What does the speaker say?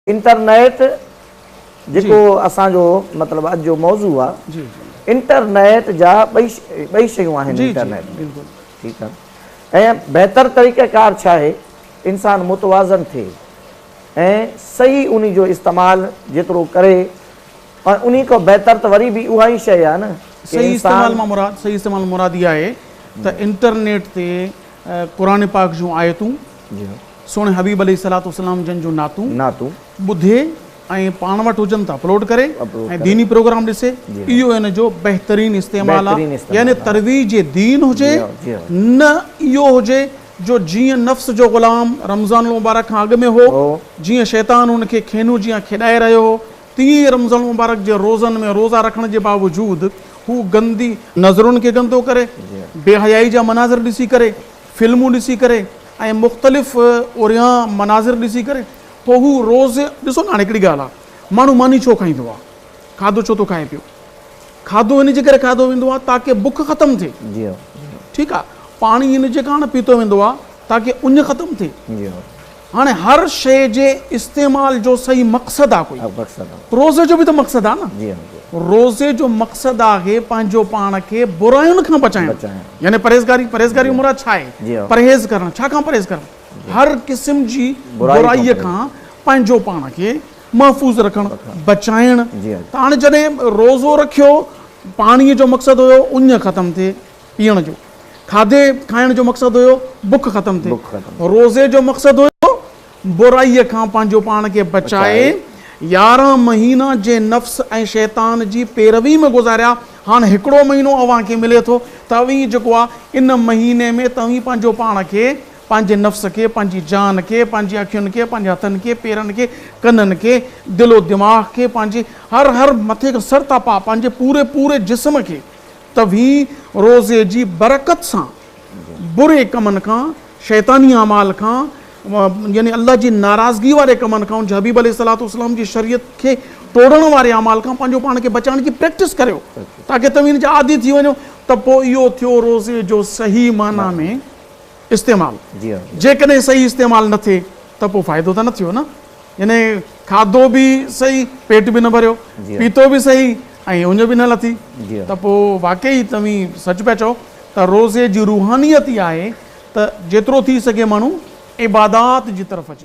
Internet جيڪو اسان جو مطلب اڄ جو موضوع آ انٽرنيٽ جا ٻئي شيون آهن انٽرنيٽ ۾ ٺيڪ آ ۽ بهتر طريقه ڪار ڇا آهي انسان متوازن ٿئي ۽ صحيح انهي جو استعمال جيترو ڪري ۽ انهي کان بهتر ته وري به اها ئي شيء آ نه صحيح استعمال مان مراد صحيح استعمال مان مراد اها آهي ته انٽرنيٽ تي قرآن پاڪ جون آيتون سهڻي حبيب عليه الصلوة والسلام جن جون نعتون ٻڌي ۽ پاڻ وٽ هجن ته اپلوڊ ڪري ۽ ديني پروگرام ڏسي اهو ان جو بهترين استعمال آ يعني ترويج دين هجي نه اهو هجي جو جيئن نفس جو غلام رمضان المبارڪ کان اڳ ۾ هو جيئن شيطان هن کي کينو جيان کيڏائي رهيو هو تيئن ئي رمضان المبارڪ جي روزن ۾ روزا رکڻ جي باوجود هو گندي نظرن کي گندو ڪري بي حيائي جا مناظر ڏسي ڪري فلمون ڏسي ڪري ۽ مختلف اوريان مناظر ڏسي ڪري پوء هو روز ڏسو نه هاڻي هڪڙي ڳالهه آ ماڻهو ماني ڇو کائيندو آ کاڌو ڇو ٿو کائي پيو کاڌو ان جي ڪري کاڌو ويندو آ تاڪه بک ختم ٿئي ٺيڪ آ پاڻي ان جي ڪاڻ پيتو ويندو آ تاڪه اڃ ختم ٿئي هاڻي هر شيء جي استعمال جو صحيح مقصد آ ڪوئي. روزي جو به ته مقصد آ نه. روزي جو مقصد آهي پنهنجو پاڻ کي براين کان بچائڻ. يعني پرهيزگاري. پرهيزگاري جو مراد ڇا آهي؟ پرهيز ڪرڻ. ڇا کان پرهيز ڪرڻ؟ هر قسم جي برائي کان پنهنجو پاڻ کي محفوظ رکڻ. بچائڻ. ته هاڻي جڏهن روزو رکيو پاڻيء جو مقصد هيو اڃ ختم ٿئي. پيئڻ جو. کاڌي کائڻ جو مقصد هيو بک ختم ٿئي. روزي جو مقصد هيو برائي کان پنهنجو پاڻ کي بچائي. يارهن مهينا جنهن نفس ۽ شيطان جي پيروي ۾ گذاريا، هاڻ هڪڙو مهينو اوهان کي ملي ٿو ته اوهين جيڪو آ ان مهيني ۾ ته اوهين پنهنجو پاڻ کي، پنهنجي نفس کي، پنهنجي جان کي، پنهنجي اکين کي، پنهنجي هٿن کي، پيرن کي، ڪنن کي، دل و دماغ کي، پنهنجي هر هر مٿي کان سر تان پاء پنهنجي پوري پوري جسم کي، توهين روزي جي برڪت سان بري ڪمن کان، شيطاني اعمال کان، يعني الله جي ناراضگي واري ڪمن کان، ان جي حبيب عليه الصلوة والسلام جي شريعت کي ٽوڙڻ واري اعمال کان پنهنجو پاڻ کي بچائڻ جي پريڪٽس ڪريو تاڪه توهين ان جا عادي ٿي وڃو ته پوء اهو ٿيو روزي جو صحيح معنيٰ ۾ استعمال جيڪڏهن صحيح استعمال نه ٿئي ته پوء فائدو ته نه ٿيو نه يعني کاڌو به صحيح پيٽ به نه ڀريو پيتو به صحيح ۽ اڃ به نه لٿي ته پوء واقعي توهين سچ پيا چئو ته روزي جي روحانيت اها آهي ته جيترو ٿي سگهي ماڻهو عبادات جي طرف اچي.